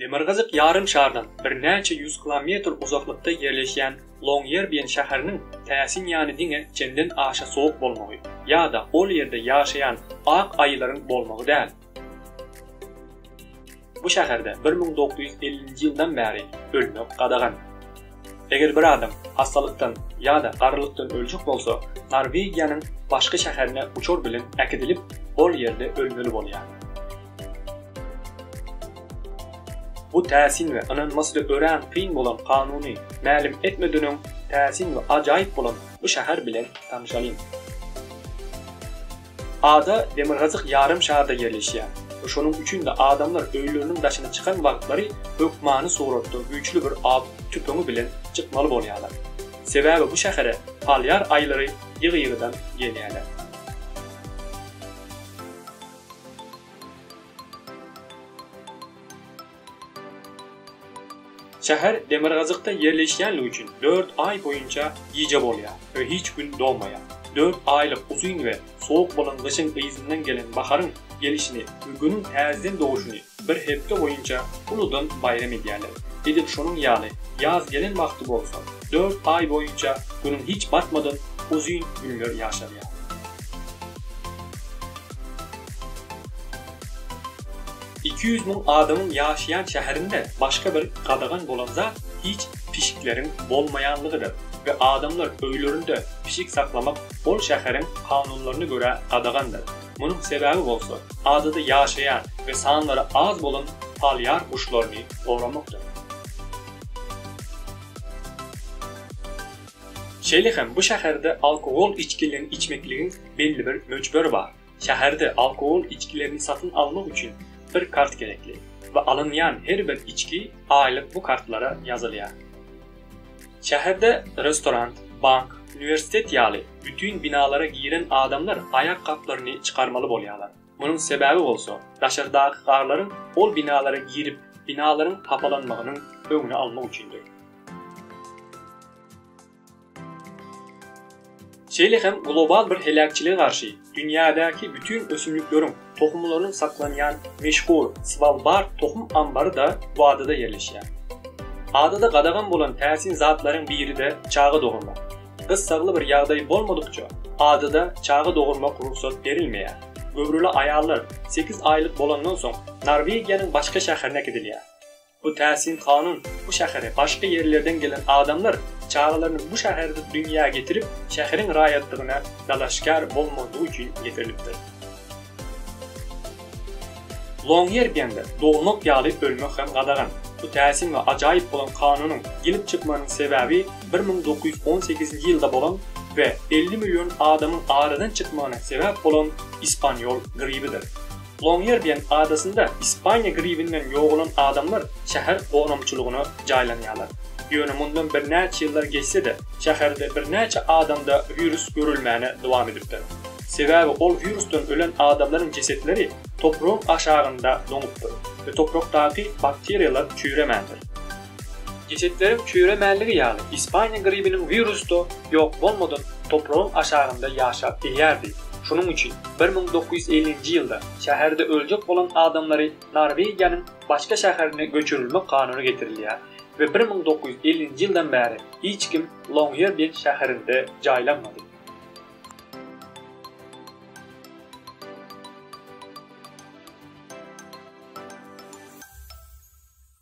Demirgazyk ýarym şardan birnäçe ýüz kilometr uzaklykda ýerleşýän Longýerbien şäheriniň täsin ýany diňe çenden aşa sowuk bolmagy ýa-da ol ýerde ýaşaýan ak aýylaryň bolmagy däl. Bu şäherde bir müň dokuz ýüz ellinji ýyldan bäri ölmek gadagan. Eger bir adam hassalykdan ýa-da garrylykdan öljek bolsa, Norwegiýanyň başky şäherine uçar bilen äkidilip, ol ýerde ölmeli bolýar. Bu täsin we ynanmasy-da örän kyn bolan kanuny mälim etmeden öň, täsin we ajaýyp bolan bu şäher bilen tanyşalyň. Ada demirgazyk ýarym şarda ýerleşýär we şonuň üçin-de adamlar öýleriniň daşyna çykan wagtlary hökmany suratda güýçli bir aw tüpeňi bilen çykmaly bolýarlar. Sebäbi bu şähere polýar aýylary ýygy-ýygydan gelýärler. Şäher demirgazykda ýerleşýänligi üçin dört aý boýunça gije bolýar we hiç gün dogmaýar. Dört aýlyk uzyn we sowuk bolan gyşyň yzyndan gelen baharyň gelişini we Günüň täzeden doguşyny bir hepde boýunça uludan baýram edýärler. Edil şonuň ýaly ýaz gelen wagty bolsa, dört aý boýunça Günüň hiç batmadan uzyn günler ýaşalýar. Iki ýüz müň adamyň ýaşaýan şäherinde başga bir gadagan bolan zat hiç pişikleriň bolmaýanlygydyr we adamlar öýlerinde pişik saklamak ol şäheriň kanunlaryna görä gadagandyr. Munuň sebäbi bolsa, adada ýaşaýan we sanlary az bolan polýar guşlaryny goramakdyr. Şeýle hem bu şäherde alkogol içgilerini içmekligiň belli bir möçberi bar. Şäherde alkogol içgilerini satyn almak üçin bir kart gerekli we alynýan her bir içgi aýlyk bu kartlara ýazylýar. Şäherde restoran, bank, uniwersitet ýaly bütin binalara giren adamlar aýakgaplaryny çykarmaly bolýarlar. Munuň sebäbi bolsa, daşardaky garlaryň ol binalara girip, binalaryň hapalanmagynyň öňüni almak üçindir. Şeýle hem global bir heläkçilige garşy dünýädäki bütin ösümlikleriň tohumlarynyň saklanýan meşhur Svalbard tohum ambary-da bu adada ýerleşýär. Adada gadagan bolan täsin zatlaryň biri-de çaga dogurmak. Gyssagly bir ýagdaý bolmadykça, adada çaga dogurmak rugsat berilmeýär. Göwreli aýallar sekiz aýlyk bolandan soň, Norwegiýanyň başga şäherine gidilýär. Bu täsin kanun bu şähere başga ýerlerden gelen adamlar çagalaryny bu şäherde dünýä getirip, şäheriň raýatlygyna dalaşgär bolmazlygy üçin getirilipdir. Longýerbýende dogulmak ýaly ölmek hem gadagan. Bu täsin we ajaýyp bolan kanunyň gelip çykmagynyň sebäbi bir müň dokuz ýüz on sekizinji ýylda bolan we elli million adamyň aradan çykmagyna sebäp bolan ispanýol gribidir. Longýerbiýen adasynda Ispaniýa gribinden ýogalan adamlar şäher gonamçylygyna jaýlanýarlar. Ýöne mundan birnäçe ýyllar geçse-de, şäherde birnäçe adamda wirus görülmäne dowam edipdir. Sebäbi ol wirusdan ölen adamlaryň jesetleri topragyň aşagynda doňupdyr we toprakdaky bakteriýalar çüýremändir. Geçetleriň çüýremänligi ýaly Ispaniýa gribiniň wirusda ýok bolmadan topragyň aşagynda ýaşap bilýärdi. Şunuň üçin bir müň dokuz ýüz ellinji ýylda şäherde öljek bolan adamlary Norwegiýanyň başga şäherine göçürilmek kanuny getirilýär we bir müň dokuz ýüz ellinji ýyldan bäri hiç kim Longýerbýen şäherinde jaýlanmady.